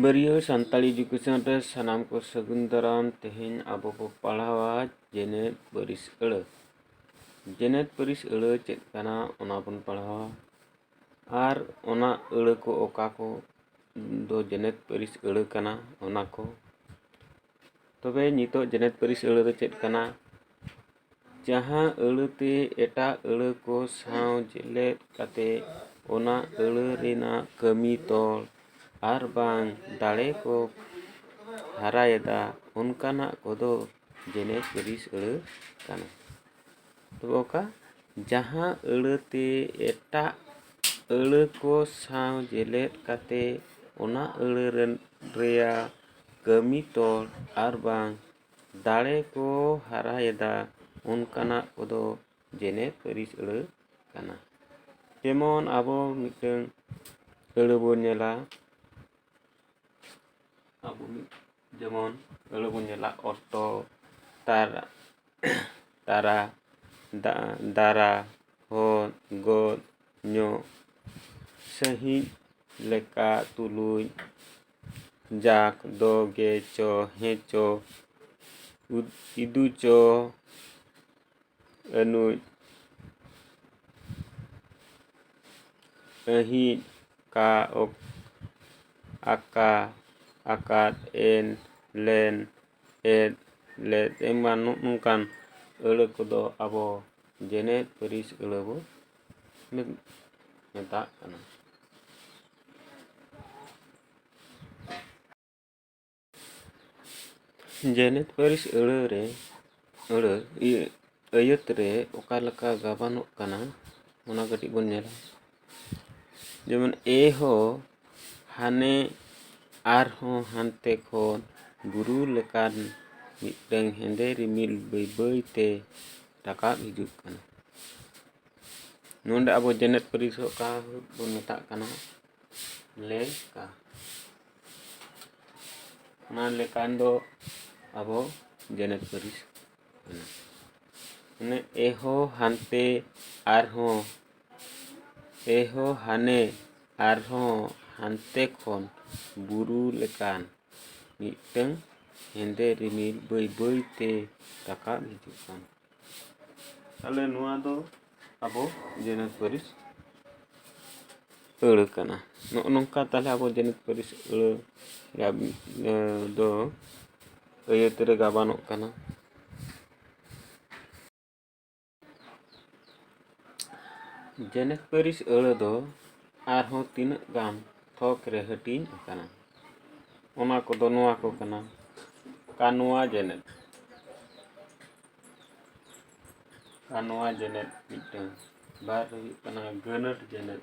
ᱵᱟᱹᱨᱭᱟᱹ Santali education ᱨᱮ ᱥᱟᱱᱟᱢ ᱠᱚ ᱥᱟᱹᱜᱩᱱ ᱫᱟᱨᱟᱢ ᱛᱮᱦᱮᱧ ᱟᱵᱚ ᱵᱚ ᱯᱟᱲᱦᱟᱣᱟ ᱡᱮᱱᱮᱛ ᱯᱟᱹᱨᱤᱥ ᱟᱹᱲᱟᱹ ᱡᱮᱱᱮᱛ ᱯᱟᱹᱨᱤᱥ ᱟᱹᱲᱟᱹ ᱪᱮᱫ ᱠᱟᱱᱟ ᱚᱱᱟ ᱵᱚᱱ ᱯᱟᱲᱦᱟᱣᱟ ᱟᱨ ᱚᱱᱟ ᱟᱹᱲᱟᱹ ᱠᱚ ᱚᱠᱟ ᱠᱚ ᱫᱚ ᱡᱮᱱᱮᱛ ᱯᱟᱹᱨᱤᱥ ᱟᱹᱲᱟᱹ ᱠᱟᱱᱟ ᱚᱱᱟ ᱠᱚ ᱛᱚᱵᱮ ᱱᱤᱛᱚᱜ ᱡᱮᱜᱮᱛ ᱯᱟᱹᱨᱤᱥ ᱟᱹᱲᱟᱹ ᱫᱚ ᱪᱮᱫ ᱠᱟᱱᱟ ᱡᱟᱦᱟᱸ ᱟᱹᱲᱟᱹ ᱛᱮ ᱮᱴᱟᱜ ᱟᱹᱲᱟᱹ ᱠᱚ ᱥᱟᱶ ᱡᱮᱞᱮᱫ ᱠᱟᱛᱮ ᱚᱱᱟ ᱟᱹᱲᱟᱹ ᱨᱮᱱᱟᱜ ᱠᱟᱹᱢᱤ ᱛᱚᱞ ᱟᱨ ᱵᱟᱝ ᱫᱟᱲᱮ ᱠᱚ ᱦᱟᱨᱟᱭᱮᱫᱟ ᱚᱱᱠᱟᱱᱟᱜ ᱠᱚᱫᱚ ᱡᱮᱜᱮᱛ ᱯᱟᱹᱨᱤᱥ ᱟᱹᱲᱟᱹ ᱠᱟᱱᱟ ᱛᱚᱵᱮ ᱚᱠᱟ ᱡᱟᱦᱟᱸ ᱟᱹᱲᱟᱹ ᱛᱮ ᱮᱴᱟᱜ ᱟᱹᱲᱟᱹ ᱠᱚ ᱥᱟᱶ ᱡᱮᱞᱮᱫ ᱠᱟᱛᱮ ᱚᱱᱟ ᱟᱹᱲᱟᱹ ᱨᱮᱱ ᱨᱮᱭᱟᱜ ᱠᱟᱹᱢᱤ ᱛᱚᱞ ᱟᱨ ᱵᱟᱝ ᱫᱟᱲᱮ ᱠᱚ ᱦᱟᱨᱟᱭᱮᱫᱟ ᱚᱱᱠᱟᱱᱟᱜ ᱠᱚᱫᱚ ᱡᱮᱱᱮᱛ ᱯᱟᱹᱨᱤᱥ ᱟᱹᱲᱟᱹ ᱠᱟᱱᱟ ᱡᱮᱢᱚᱱ ᱟᱵᱚ ᱢᱤᱫᱴᱟᱹᱝ ᱟᱹᱲᱟᱹ ᱵᱚᱱ ᱧᱮᱞᱟ ᱟᱵᱚ ᱢᱤᱫ ᱡᱮᱢᱚᱱ ᱟᱹᱲᱟᱹ ᱵᱚᱱ ᱧᱮᱞᱟ ᱚᱴᱚ ᱛᱟᱨ ᱛᱟᱨᱟ ᱫᱟ ᱫᱟᱨᱟ ᱦᱚᱫ ᱜᱚᱫ ᱧᱚᱜ ᱥᱟᱺᱦᱤᱡ ᱞᱮᱠᱟ ᱛᱩᱞᱩᱡ ᱡᱟᱠ ᱫᱚ ᱜᱮ ᱪᱚ ᱦᱮ ᱪᱚ ᱤᱫᱩ ᱪᱚ ᱟᱹᱱᱩᱡ ᱟᱹᱦᱤᱡ ᱠᱟ ᱚᱠ ᱟᱠᱟ ᱟᱠᱟᱫ ᱮᱱ ᱞᱮᱱ ᱮᱫ ᱞᱮᱫ ᱮᱢᱟᱱ ᱱᱚᱜᱼᱚ ᱱᱚᱝᱠᱟᱱ ᱟᱹᱲᱟᱹ ᱠᱚᱫᱚ ᱟᱵᱚ ᱡᱮᱱᱮᱛ ᱯᱟᱹᱨᱤᱥ ᱟᱹᱲᱟᱹ ᱵᱚ ᱢᱮᱛᱟᱜ ᱠᱟᱱᱟ ᱡᱮᱜᱮᱛ ᱯᱟᱹᱨᱤᱥ ᱟᱹᱲᱟᱹ ᱨᱮ ᱟᱹᱲᱟᱹ ᱤᱭᱟᱹ ᱟᱹᱭᱟᱹᱛ ᱨᱮ ᱚᱠᱟ ᱞᱮᱠᱟ ᱜᱟᱵᱟᱱᱚᱜ ᱠᱟᱱᱟ ᱚᱱᱟ ᱠᱟᱹᱴᱤᱡ ᱵᱚᱱ ᱧᱮᱞᱟ ᱡᱮᱢᱚᱱ ᱮ ᱦᱚ ᱦᱟᱱᱮ ᱟᱨᱦᱚᱸ ᱦᱟᱱᱛᱮ ᱠᱷᱚᱱ ᱵᱩᱨᱩ ᱞᱮᱠᱟᱱ ᱢᱤᱫᱴᱟᱹᱝ ᱦᱮᱸᱫᱮ ᱨᱤᱢᱤᱞ ᱵᱟᱹᱭ ᱵᱟᱹᱭᱛᱮ ᱨᱟᱠᱟᱵ ᱦᱤᱡᱩᱜ ᱠᱟᱱᱟ ᱱᱚᱰᱮ ᱟᱵᱚ ᱡᱮᱱᱮᱛ ᱯᱟᱹᱨᱤᱥ ᱚᱠᱟ ᱵᱚᱱ ᱢᱮᱛᱟᱜ ᱠᱟᱱᱟ ᱞᱮᱠᱟ ᱚᱱᱟ ᱞᱮᱠᱟᱱ ᱫᱚ ᱟᱵᱚ ᱡᱮᱱᱮᱛ ᱯᱟᱹᱨᱤᱥ ᱠᱟᱱᱟ ᱢᱟᱱᱮ ᱮᱦᱚ ᱦᱟᱱᱛᱮ ᱟᱨᱦᱚᱸ ᱮᱦᱚ ᱦᱟᱱᱮ ᱟᱨᱦᱚᱸ ᱦᱟᱱᱛᱮ ᱠᱷᱚᱱ ᱵᱩᱨᱩ ᱞᱮᱠᱟᱱ ᱢᱤᱫᱴᱟᱹᱝ ᱦᱮᱸᱫᱮ ᱨᱤᱢᱤᱞ ᱵᱟᱹᱭ ᱵᱟᱹᱭᱛᱮ ᱨᱟᱠᱟᱵ ᱦᱤᱡᱩᱜ ᱠᱟᱱᱟ ᱛᱟᱦᱚᱞᱮ ᱱᱚᱣᱟ ᱫᱚ ᱟᱵᱚ ᱡᱮᱱᱮᱛ ᱯᱟᱹᱨᱤᱥ ᱟᱹᱲᱟᱹ ᱠᱟᱱᱟ ᱱᱚᱜᱼᱚ ᱱᱚᱝᱠᱟ ᱛᱟᱦᱚᱞᱮ ᱟᱵᱚ ᱡᱮᱱᱮᱛ ᱯᱟᱹᱨᱤᱥ ᱟᱹᱲᱟᱹ ᱫᱚ ᱟᱹᱭᱟᱹᱛ ᱨᱮ ᱜᱟᱵᱟᱱᱚᱜ ᱠᱟᱱᱟ ᱡᱮᱱᱮᱛ ᱯᱟᱹᱨᱤᱥ ᱟᱹᱲᱟᱹ ᱫᱚ ᱟᱨᱦᱚᱸ ᱛᱤᱱᱟᱹᱜ ᱜᱟᱱ ᱛᱷᱚᱠ ᱨᱮ ᱦᱟᱹᱴᱤᱧ ᱟᱠᱟᱱᱟ ᱚᱱᱟ ᱠᱚᱫᱚ ᱱᱚᱣᱟ ᱠᱚ ᱠᱟᱱᱟ ᱠᱟᱱᱣᱟ ᱡᱮᱱᱮᱛ ᱠᱟᱱᱣᱟ ᱡᱮᱱᱮᱛ ᱢᱤᱫᱴᱟᱹᱝ ᱵᱟᱨ ᱦᱩᱭᱩᱜ ᱠᱟᱱᱟ ᱜᱟᱹᱱᱟᱹᱛ ᱡᱮᱱᱮᱛ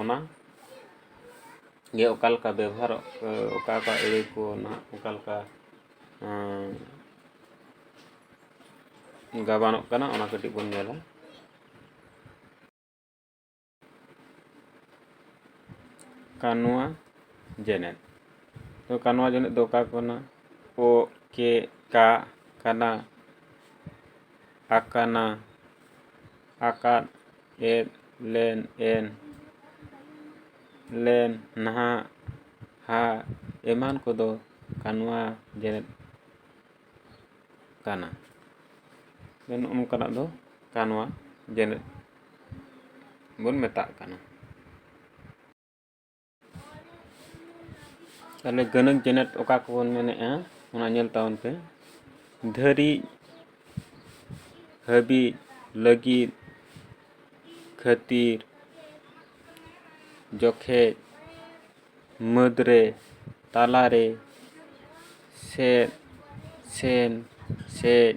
ᱚᱱᱟ ᱜᱮ ᱚᱠᱟ ᱞᱮᱠᱟ ᱵᱮᱵᱚᱦᱟᱨᱚᱜ ᱚᱠᱟ ᱚᱠᱟ ᱟᱹᱲᱟᱹ ᱠᱚ ᱱᱟᱦᱟᱜ ᱚᱠᱟ ᱞᱮᱠᱟ ᱜᱟᱵᱟᱱᱚᱜ ᱠᱟᱱᱟ ᱚᱱᱟ ᱠᱟᱹᱴᱤᱡ ᱵᱚᱱ ᱧᱮᱞᱟ ᱠᱟᱱᱩᱣᱟ ᱡᱮᱱᱮᱛ ᱛᱚ ᱠᱟᱱᱩᱣᱟ ᱡᱮᱱᱮᱛ ᱫᱚ ᱚᱠᱟ ᱠᱟᱱᱟ ᱳ ᱠᱮ ᱠᱟ ᱠᱟᱱᱟ ᱟᱠᱟᱱᱟ ᱟᱠᱟᱫ ᱮᱫ ᱞᱮᱱ ᱮᱱ ᱞᱮᱱ ᱱᱟᱦᱟᱜ ᱦᱟᱜ ᱮᱢᱟᱱ ᱠᱚᱫᱚ ᱠᱟᱱᱣᱟ ᱡᱮᱨᱮᱫ ᱠᱟᱱᱟ ᱢᱮᱱ ᱚᱱᱠᱟᱱᱟᱜ ᱫᱚ ᱠᱟᱱᱣᱟ ᱡᱮᱨᱮᱫ ᱵᱚᱱ ᱢᱮᱛᱟᱜ ᱠᱟᱱᱟ ᱛᱟᱦᱚᱞᱮ ᱜᱟᱹᱱᱟᱹᱠ ᱡᱮᱱᱮᱴ ᱚᱠᱟ ᱠᱚᱵᱚᱱ ᱢᱮᱱᱮᱫᱼᱟ ᱚᱱᱟ ᱧᱮᱞ ᱛᱟᱵᱚᱱ ᱯᱮ ᱫᱷᱟᱹᱨᱤᱡ ᱦᱟᱹᱵᱤᱡ ᱞᱟᱹᱜᱤᱫ ᱠᱷᱟᱹᱛᱤᱨ ᱡᱚᱠᱷᱮᱡ ᱢᱟᱹᱫᱽᱨᱮ ᱛᱟᱞᱟᱨᱮ ᱥᱮᱫ ᱥᱮᱱ ᱥᱮᱫ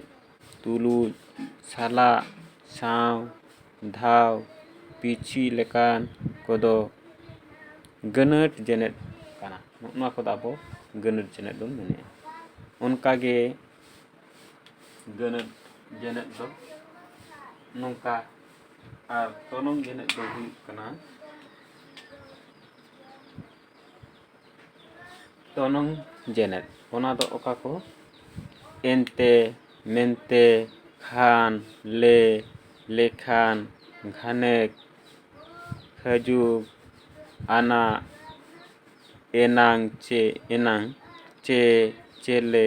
ᱛᱩᱞᱩᱡ ᱥᱟᱞᱟᱜ ᱥᱟᱶ ᱫᱷᱟᱣ ᱯᱤᱪᱷᱤ ᱞᱮᱠᱟᱱ ᱠᱚᱫᱚ ᱜᱟᱹᱱᱟᱹᱴ ᱡᱮᱱᱮᱫ ᱠᱟᱱᱟ ᱱᱚᱜᱼᱚ ᱱᱚᱣᱟ ᱠᱚᱫᱚ ᱟᱵᱚ ᱜᱟᱹᱱᱟᱹᱴ ᱡᱮᱱᱮᱫ ᱵᱚᱱ ᱢᱮᱱᱮᱫᱼᱟ ᱚᱱᱠᱟ ᱜᱮ ᱜᱟᱹᱱᱟᱹᱴ ᱡᱮᱱᱮᱫ ᱫᱚ ᱱᱚᱝᱠᱟ ᱟᱨ ᱛᱚᱱᱚᱝ ᱡᱮᱱᱮᱫ ᱫᱚ ᱦᱩᱭᱩᱜ ᱠᱟᱱᱟ ᱛᱚᱱᱚᱝ ᱡᱮᱱᱮᱫ ᱚᱱᱟ ᱫᱚ ᱚᱠᱟ ᱠᱚ ᱮᱱᱛᱮ ᱢᱮᱱᱛᱮ ᱠᱷᱟᱱ ᱞᱮ ᱞᱮᱠᱷᱟᱱ ᱜᱷᱟᱱᱮᱠ ᱠᱷᱟᱹᱡᱩᱜ ᱟᱱᱟᱜ ᱮᱱᱟᱝ ᱪᱮ ᱮᱱᱟᱝ ᱪᱮ ᱪᱮᱞᱮ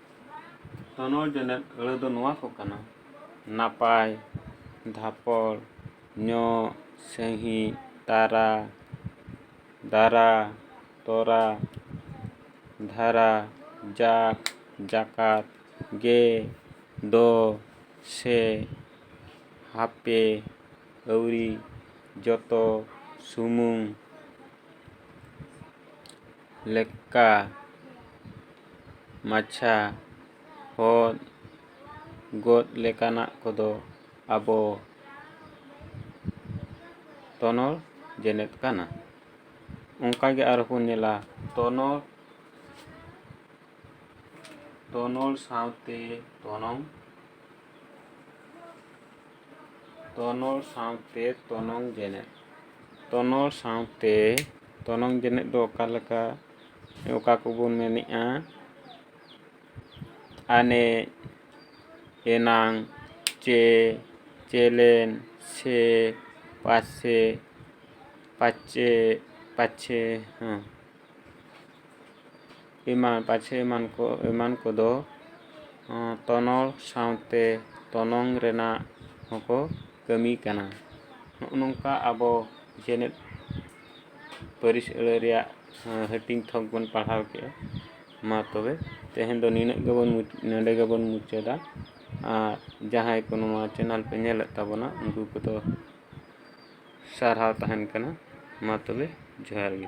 ᱛᱚᱱᱚᱞ ᱡᱚᱱᱮᱛ ᱟᱹᱲᱟᱹ ᱫᱚ ᱱᱚᱣᱟ ᱠᱚ ᱠᱟᱱᱟ ᱱᱟᱯᱟᱭ ᱫᱷᱟᱯᱚᱲ ᱧᱚᱜ ᱥᱟᱺᱦᱤᱡ ᱛᱟᱨᱟ ᱫᱟᱨᱟ ᱛᱚᱨᱟ ᱫᱷᱟᱨᱟ ᱡᱟᱜ ᱡᱟᱠᱟᱛ ᱜᱮ ᱫᱚ ᱥᱮ ᱦᱟᱯᱮ ᱟᱹᱣᱨᱤ ᱡᱚᱛᱚ ᱥᱩᱢᱩᱝ ᱞᱮᱠᱟ ᱢᱟᱪᱷᱟ ᱦᱚᱫ ᱜᱚᱫ ᱞᱮᱠᱟᱱᱟᱜ ᱠᱚᱫᱚ ᱟᱵᱚ ᱛᱚᱱᱚᱞ ᱡᱮᱱᱮᱫ ᱠᱟᱱᱟ ᱚᱱᱠᱟ ᱜᱮ ᱟᱨᱦᱚᱸ ᱵᱚᱱ ᱧᱮᱞᱟ ᱛᱚᱱᱚᱞ ᱛᱚᱱᱚᱞ ᱥᱟᱶᱛᱮ ᱛᱚᱱᱚᱝ ᱛᱚᱱᱚᱞ ᱥᱟᱶᱛᱮ ᱛᱚᱱᱚᱝ ᱡᱮᱱᱮᱫ ᱛᱚᱱᱚᱞ ᱥᱟᱶᱛᱮ ᱛᱚᱱᱚᱝ ᱡᱮᱱᱮᱫ ᱫᱚ ᱚᱠᱟ ᱞᱮᱠᱟ ᱚᱠᱟ ᱠᱚᱵᱚᱱ ᱢᱮᱱᱮᱜᱼᱟ ᱟᱱᱮᱡ ᱮᱱᱟᱝ ᱪᱮ ᱪᱮᱞᱮᱱ ᱥᱮ ᱯᱟᱥᱮ ᱯᱟᱪᱮ ᱯᱟᱪᱷᱮ ᱦᱮᱸ ᱮᱢᱟᱱ ᱯᱟᱪᱮ ᱮᱢᱟᱱ ᱠᱚ ᱮᱢᱟᱱ ᱠᱚᱫᱚ ᱛᱚᱱᱚᱞ ᱥᱟᱶᱛᱮ ᱛᱚᱱᱚᱝ ᱨᱮᱱᱟᱜ ᱦᱚᱸᱠᱚ ᱠᱟᱹᱢᱤ ᱠᱟᱱᱟ ᱱᱚᱜᱼᱚ ᱱᱚᱝᱠᱟ ᱟᱵᱚ ᱡᱮᱱᱮᱛ ᱯᱟᱹᱨᱤᱥ ᱟᱹᱲᱟᱹ ᱨᱮᱭᱟᱜ ᱦᱟᱹᱴᱤᱧ ᱛᱷᱚᱠ ᱵᱚᱱ ᱯᱟᱲᱦᱟᱣ ᱠᱮᱜᱼᱟ ᱢᱟ ᱛᱚᱵᱮ ᱛᱮᱦᱮᱧ ᱫᱚ ᱱᱤᱱᱟᱹᱜ ᱜᱮᱵᱚᱱ ᱱᱚᱰᱮ ᱜᱮᱵᱚᱱ ᱢᱩᱪᱟᱹᱫᱟ ᱟᱨ ᱡᱟᱦᱟᱸᱭ ᱠᱚ ᱱᱚᱣᱟ ᱪᱮᱱᱮᱞ ᱯᱮ ᱧᱮᱞᱮᱫ ᱛᱟᱵᱚᱱᱟ ᱩᱱᱠᱩ ᱠᱚᱫᱚ ᱥᱟᱨᱦᱟᱣ ᱛᱟᱦᱮᱱ ᱠᱟᱱᱟ ᱢᱟ ᱛᱚᱵᱮ ᱡᱚᱦᱟᱨ ᱜᱮ